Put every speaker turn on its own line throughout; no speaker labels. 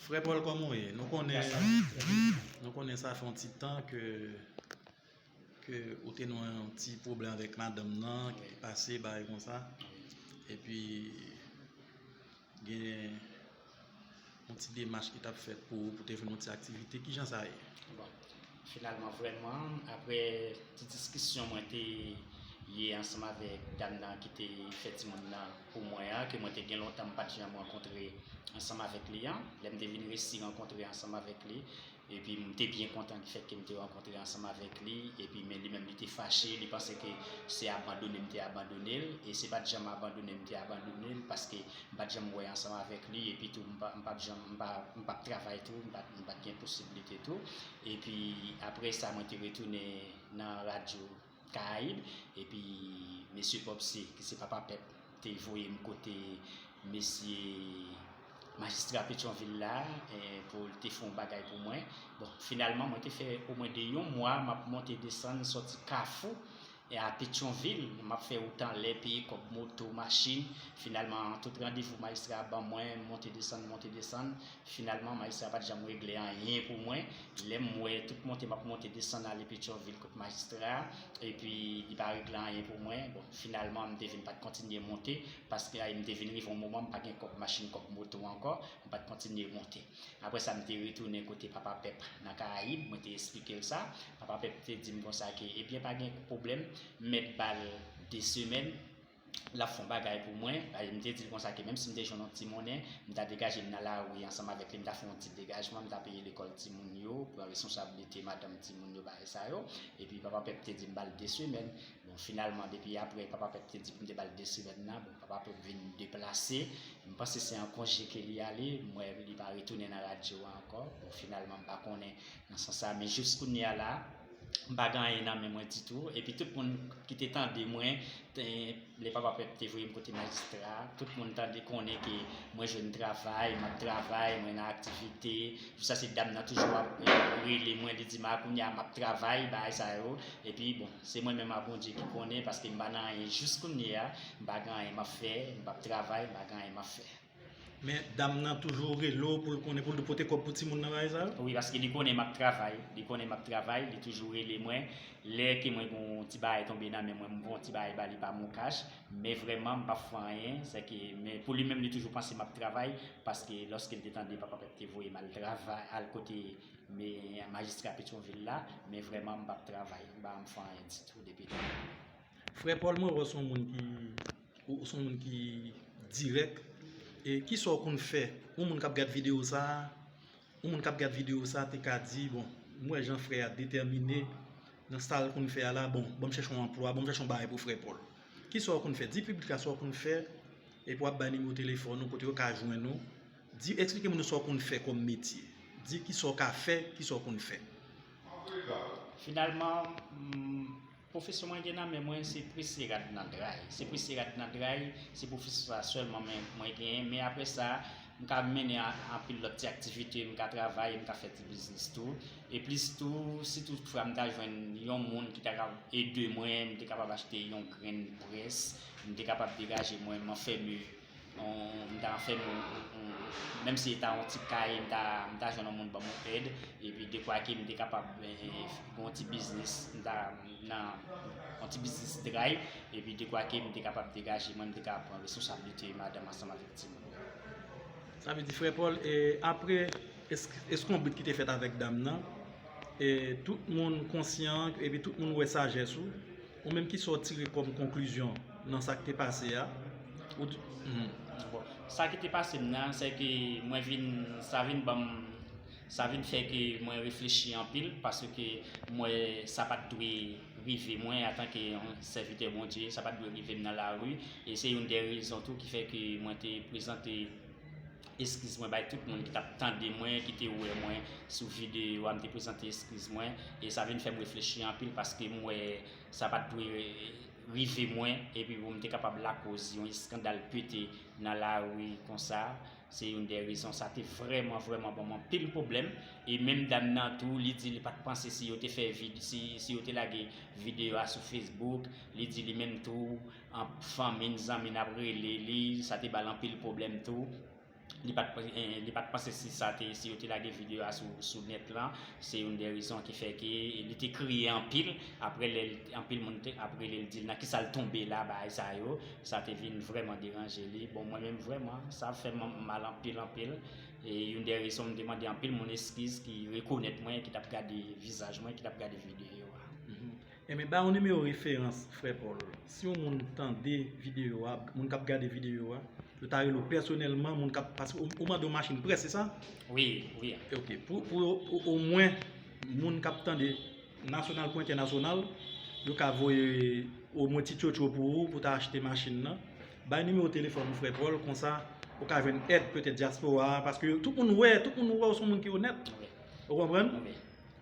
Frè Paul kòman w ye? Nou konnen Nou konnen sa fè yon ti tan ke ke ou te nan yon ti pwoblèm avèk madanm w nan ki te pase bagay konsa epi gen yon ti demach ki t ap fèt pou ou pou te jwenn yon ti aktivite. Kijan sa ye?
Finalman vrèman aprè ti diskisyon mwen te ye ansanm avèk dam nan ki te fè timoun nan pou mwen an, ke mwen te gen lontan m pa t janm rankontre ansanm avèk li an, lè m te vin resi rankontre ansanm avèk li, epi m te byen kontan ki fèt ke m te rankontre ansanm avèk li, epi men li menm li te fache, li panse ke se abandone m te abandone l, e se pa t janm abandone m te abandone l, paske. M pa t janm wè ansanm avèk li epitou m pa t janm, m pa t travay tou, m pa t gen posiblite tou. Epi apre sa mwen te retounen nan radyo Karayib epi mesye Popse ki se papa pèp te voye m kote mesye majistra Petyonvil la pou l te fè yon bagay pou mwen. Bon, finalman mwen te fè omwen de yon mwa m ap monte desann sòti Kafou E a Petyonvil, m ap fè wout anlè, peye kòb moto, machin. Finalman, tout randevou Majistra a ban mwen, m monte desann, monte desann. Finalman, Majistra a pa t janm regle anyen pou mwen. Lè m wè tout monte m ap monte desann ale Petyonvil kot Majistra a, epi li pa regle anyen pou mwen, bon, finalman m te vin pa t kontinye monte, paske ay m te vin rive yon moman m pa gen kòb machin, kòb moto ankò, m pa t kontinye monte. Apre sa, m te retounen kote Papa Pep nan Karayib, mwen te esplike l sa. Papa Pep te di m konsa ke, ebyen pa gen pwoblèm, m mèt ba l de semèn, l ap fè yon bagay pou mwen. E m te di l konsa ke menm si m te jwenn yon ti monnen, m ta degaje m nan lari ansanm avèk li, m ta fè yon ti degajman, m ta peye lekòl timoun yo, pran responsablite madanm timoun yo, bagay sa yo. Epi Papa Pep te di m ba l de semèn. Bon finalman depi aprè papa pèp te di pou m te ba l 2 semèn nan, bon papa pèp vin deplase, m panse se an konje ke li ale, m wè li pa retounen nan radyo a ankò, bon finalman m pa konnen nan sans sa, men jous kounye a la m pa gen anyen nan men mwen ditou, epi tout moun ki te tande mwen lè papa pèp te voye m kote majistra a, tout moun tande konnen ke mwen jwenn travay, m ap travay, mwen nan aktivite, jous a se dam nan toujou ap rele mwen li di ma kounye a m ap travay, bagay sa yo, epi bon. Se mwen menm a Bondye ki konnen paske mpa nan anyen jis kounye a mpa gen anyen map fè mpap travay mpa gen anyen map fè. Men dam
nan toujou rele w pou l konnen pou l pote kòb pou timoun nan bagay sa yo? Wi paske li konnen map
travay li konnen map travay li toujou rele mwen lè ke mwen gen yon ti bagay tonbe nan men mwen m pran ti bagay ba li pa m yon kach men vrèman mpap fè anyen se ke men pou li menm li toujou panse map travay paske lòske l te tande papa pèp te voye m al travay al kote Me majistra petronvil la men vreman m pap travay m pa anm fè anyen ditou depi demen. Frè
Paul mwen wè w son moun ki ou son moun ki dirèk e kisa w konn fè yon moun kap gad video sa yon moun kap gad video sa te ka di bon m wè jan frè a detèmine nan sa l konn fè a la bon banm chèche yon anplwa banm chèche yon bagay pou frè Paul kisa w konn fè di piblik la sa w konn fè epi wap bay nimewo telefòn ou kote yo ka jwenn ou. Di eksplike moun yo sa w konn fè kòm metye. Di kisa w ka fè, kisa w konn fè. Finalman,
pwofesyon mwen gen nan men mwen se prese rad nan dray. Se prese rad nan dray, se pwofesyon sa sèlman mwen genyen. Men apre sa, m ka mennen anpil lòt ti aktivite, m ka travay, m ka fè ti biznis tou. E plis tou, si tout fwa m ta jwenn yon moun ki ta ka ede mwen, m te kapab achte yon grenn près, m te kapab degaje mwen, m anfème. m ta fè m yon menm si se ta yon ti kay m ta jwenn yon moun banm yon èd epi dekwa ke m te kapab gen yon ti biznis m ta nan yon ti biznis dray epi dekwa ke m te kapab degaje mwen m te ka pran resosablite madanm ansanm avèk ti moun yo.
Sa vle di frè Paul e apre eskonbrit ki te fèt avèk dam nan e tout moun konsyan epi tout moun wè sajès ou Ou menm kisa w tire kòm konklizyon nan sa k te pase a? Ou t. Bon,
sa ki te pase m nan, se ke mwen vin, sa vin ban m, sa vin fè ke mwen reflechi anpil, paske m wè sa pa t dwe rive mwen antanke yon sèvitè Bondye, sa pa t dwe rive m nan lari, e se youn dè rezon tou ki fè ke mwen te prezante. Eskiz mwen bay tout moun ki tap tande mwen, ki te wè mwen sou videyo a, m te prezante eskiz mwen, e sa vin fèm reflechi anpil paske m wè sa pat dwe rive mwen, epi pou m te kapab lakoz yon eskandal pete nan lari konsa, se youn dè rezon sa te vrèman vrèman banm anpil pwoblèm, e menm dam nan tou li di li pat panse si yo te fè si yo te lage videyo a sou Facebook, li di li menm tou Anp fanmi n zanmi n ap rele li, sa te ba l anpil pwoblèm tou. Li pa t panse si sa te, si yo te lage videyo a sou nèt lan, se youn dè rezon ki fè ke li te kriye anpil apre lè anpil moun te ap rele l di l nan kisa l tonbe la, bagay sa yo, sa te vin vrèman deranje li. Bon mwen menm vrèman, sa fè m mal anpil anpil. E youn dè rezon m te mande anpil moun eskiz ki rekonèt mwen, ki t ap gade vizaj mwen, ki t ap gade videyo a. Enben
ba yon nimewo referans frè Paul. Si yon moun tande videyo a, moun kap gade videyo a, yo ta rele w pèsonèlman, moun kap, paske ou mande yon machin près se sa? Wi, wi.
Ok,
pou omwen moun kap tande nasyonal kou entènasyonal, yo ka voye omwen ti tchotcho pou ou pou ta achte machin nan. Bay nimewo telefòn ou frè Paul, konsa ou ka jwenn èd petèt dyaspora, paske tout moun wè, tout moun wè ou son moun ki onèt. Ou konprann?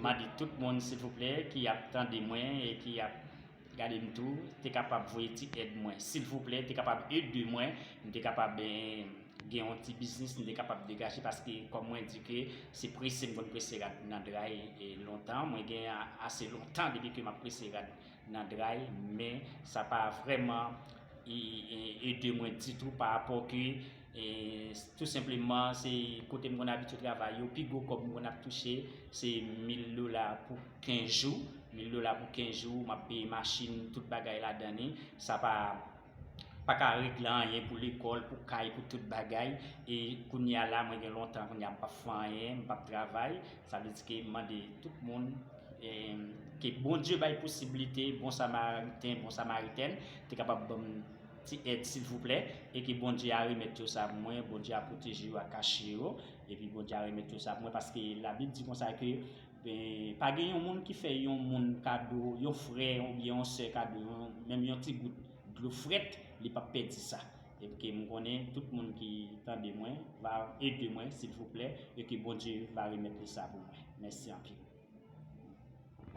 Mande tout moun silvouplè ki ap tande mwen e ki ap gadem tou te kapab voye ti èd mwen silvouplè te kapab ede mwen m te kapab gen yon ti biznis m te kapab degaje paske kòm mwen di ke se prese m konn prese rad nan dray lontan mwen gen ase lontan depi ke m ap prese rad nan dray men sa pa vrèman ede mwen ditou pa rapò ke E tou senpleman se kote m konn abitye travay yo, pi gwo kòb m konn ap touche se 1000 dola pou 15 jou. 1000 dola pou 15 jou, m ap peye machin, tout bagay ladan li. Sa pa pa ka regle anyen pou lekòl, pou kay, pou tout bagay. E kounye a la, mwen gen lontan kounye a m pa p fè anyen, m pa p travay. Sa vle di ke m mande tout moun ke Bondye bay posiblite, bon samariten, bon samaritèn te kapab ban m. Ti èd silvouplè e ke Bondye a remèt yo sa pou mwen, Bondye a pwoteje yo a kache yo epi Bondye a remèt yo sa pou mwen paske la bib di konsa ke pa gen yon moun ki fè yon moun kado yon frè oubyen yon sè kado yon menm yon ti gout dlo frèt li pap pèdi sa epi ke m konnen tout moun ki tande mwen va ede mwen silvouplè e ke Bondye va remèt li sa pou mwen mèsi anpil.